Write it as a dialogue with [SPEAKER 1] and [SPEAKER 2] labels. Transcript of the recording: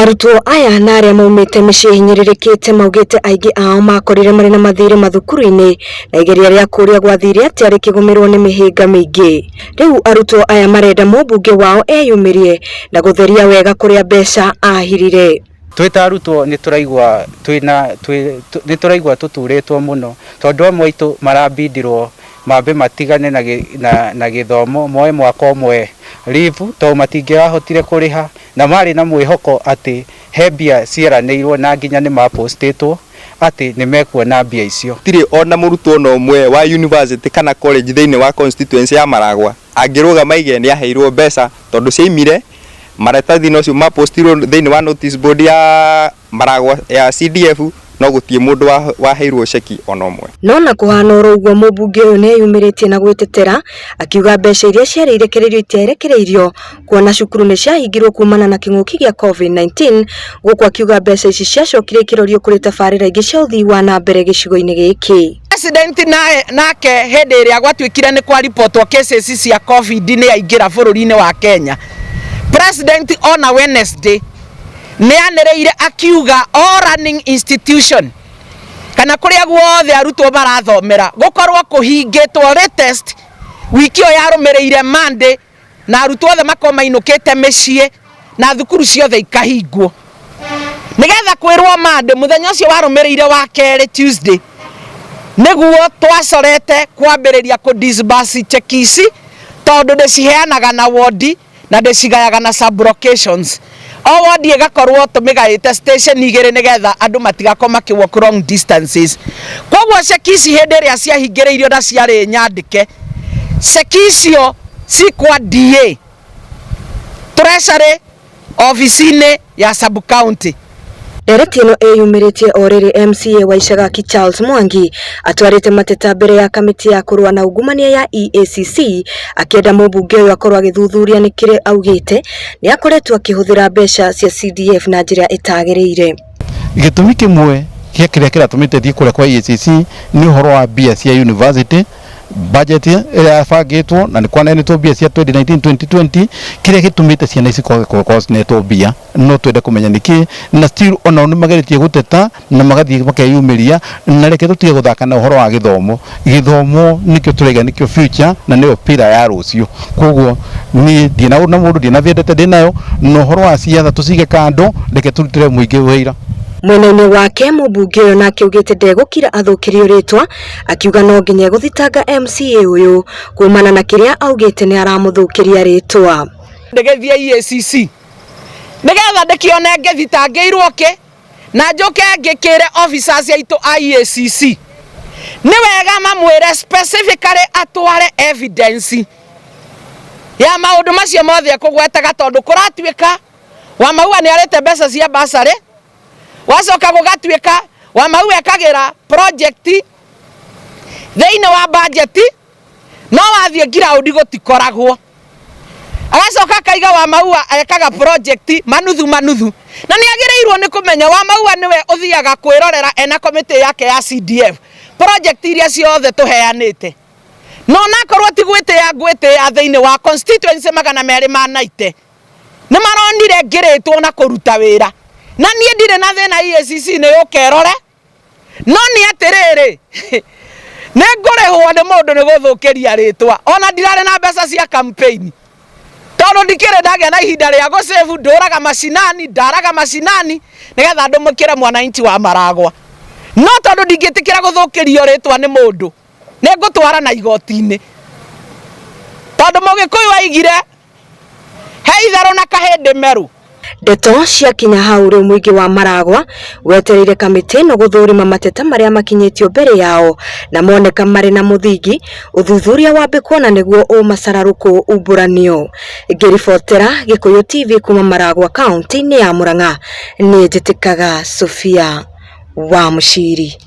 [SPEAKER 1] Arutwo aya na arĩa maumĩte mĩciĩ ĩhinyĩrĩrĩkĩte maugĩte aingĩ ao makorire marĩ na mathirĩ mathukuru-inĩ na igeria rĩa kũrĩa gwathire atĩa rĩkĩgũmĩrwo nĩ mĩhĩnga mĩingĩ. Rĩu arutwo aya marenda mũmbunge wao eyumĩrie na gũtheria wega kũrĩa mbeca ahirire. Twĩ ta arutwo
[SPEAKER 2] nĩ tũraigua twĩ na twĩ nĩ tũraigua tũturĩtwo mũno tondũ amwe aitũ marabindirwo mambe matigane na na gĩthomo moe mwaka ũmwe leave tondũ matingĩrahotire kũrĩha Na maarĩ na mwĩhoko atĩ he mbia cieranĩirũo na nginya nĩ ma postĩtwo atĩ nĩ mekuona mbia icio. Gũtirĩ o na mũrutwo o
[SPEAKER 3] na ũmwe wa yunivasĩtĩ kana college thĩinĩ wa constituency ya Maragwa angĩrũgama aige nĩ aheirũo mbeca tondũ ciaimire maratathi-inĩ ũcio ma postirũo thĩinĩ wa notice board ya Maragwa ya CDF no gũtiĩ mũndũ waheirwo ceki ona ũmwe. No ona kũhana oro
[SPEAKER 1] ũguo mũmbunge ũyũ nĩeyumĩrĩtie na gwĩtetera akiuga mbeca iria ciarĩ irekereirio itiarekereirio kuona cukuru nĩciahingirwo kumana na kĩng'ũki gĩa Covid-19 gũkũ akiuga mbeca ici ciacokire ikĩrorio kũrĩ tabarĩra ingĩ cia ũthii wa na mbere gĩcigo-inĩ gĩkĩ. President
[SPEAKER 4] nake hĩndĩ ĩrĩa gwatuĩkire nĩ kwa reportwo cases cia Covid nĩaingĩra bũrũri-inĩ wa Kenya. President ona Wednesday Nĩanĩrĩire akiuga all learning institution kana kũrĩa guothe arutwo marathomera gũkorwo kũhingĩtwo latest wiki ĩyo yarũmĩrĩire Monday na arutwo othe makorwo mainũkĩte mĩciĩ na thukuru ciothe ikahingwo nĩgetha kwĩrwo Monday mũthenya ũcio warũmĩrĩire wa kerĩ Tuesday nĩguo twacorete kwambĩrĩria kũ disburse cheki ici tondũ ndĩciheanaga na wondi. na ndĩcigayaga na sub locations o wondi ĩgakorwo tũmĩgaĩte station igĩrĩ nĩgetha andũ matigakorwo makĩ walk long distances koguo ceki ici hĩndĩ ĩrĩa ciahingĩrĩirio na ciarĩ nyandĩke ceki icio cikwa DA treasury obici-inĩ ya sub county Ndereti ĩno
[SPEAKER 1] ĩyumĩrĩtie o rĩrĩ MCA wa Ishagaki Charles Mwangi atwarĩte mateta mbere ya kamĩtĩ ya kũrũa na ungumania ya EACC akĩenda mũmbunge ũyũ akorwo agĩthuthuria nĩ kĩrĩ augĩte nĩ akoretwo akĩhũthĩra mbeca cia CDF na njĩra ĩtagĩrĩire. Gĩtũmi
[SPEAKER 5] kĩmwe gĩa kĩrĩa kĩratũmĩte thiĩ kũrĩa kwa EACC nĩ ũhoro wa mbia cia university budget ĩrĩa yabangĩtwo na nĩ kwanenetwo mbia cia 2019 2020 kĩrĩa gĩtũmĩte ciana ici kwage gũkorwo cinetwo mbia no twende kũmenya nĩkĩ na still onao nĩ mageretie gũteta na magathiĩ makeyumĩria na reke tũtige gũthaka na ũhoro wa gĩthomo gĩthomo nĩkĩo tũraiga nĩkĩo future na nĩyo pira ya rũciũ koguo niĩ ndirĩ na ũndũ na mũndũ ndirĩ na vendete ndĩ nayo na ũhoro wa ciatha tũcige kando reke tũrutĩre mũingĩ wĩra Mwena-inĩ wake
[SPEAKER 1] mũmbunge ũyũ nake augĩte ndegũkira athũkĩrio rĩtwa akiuga no nginya egũthitanga MCA ũyũ kuumana na kĩrĩa augĩte nĩ aramũthũkĩria rĩtwa. ndĩgĩthiĩ
[SPEAKER 4] EACC nĩgetha ndĩkĩone ngĩthitangĩirwo kĩ na njũke ngĩkĩre officers aitũ a EACC nĩ wega mamwĩre specifically atware evidence ya maũndũ macio mothe ekũgwetaga tondũ kũratuĩka Wamaua nĩ arĩte mbeca cia bursary gwacoka gũgatuĩka wamau ekagĩra project thĩinĩ wa budget no wathiĩ ground gũtikoragwo agacoka akaiga wamau ekaga project manuthu manuthu na nĩ agĩrĩirwo nĩ kũmenya wamau nĩwe ũthiaga kwĩrorera ena committee yake ya CDF project iria ciothe tũheanĩte na onakorwo ti gwĩtĩa ngwĩtĩa thĩinĩ wa constituency magana merĩ ma 90 nĩ maronire ngĩrĩtwo na kũruta wĩra na niĩ ndirĩ na thĩna EACC nĩ ũkerore no nĩ atĩrĩrĩ nĩ ngũrĩhwo nĩ mũndũ nĩ gũthũkĩria rĩtwa ona ndirarĩ na mbeca cia campaign tondũ ndikĩrĩ ndagĩa na ihinda rĩa gũcĩbu ndũraga macinani ndaraga macinani nĩgetha ndũmũkĩre mwananchi wa maragwa no tondũ ndingĩtĩkĩra gũthũkĩrio rĩtwa nĩ mũndũ nĩ ngũtwara na igoti-inĩ tondũ mũgĩkũyũ aigire He itharũ na kahĩndĩ meru. Ndeto
[SPEAKER 1] ciakinya hau rĩu mũingĩ wa Maragwa wetereire kamĩtĩ ĩno gũthũrima mateta marĩa makinyĩtio mbere yao na moneka marĩ na mũthingi ũthuthuria wambe kuona nĩguo ũmacararũkũ umbũranio. Ngĩribotera Gĩkũyũ TV kuma Maragwa kaunti-inĩ ya Murang'a, niĩ njĩtĩkaga Sofia wa Mũciri.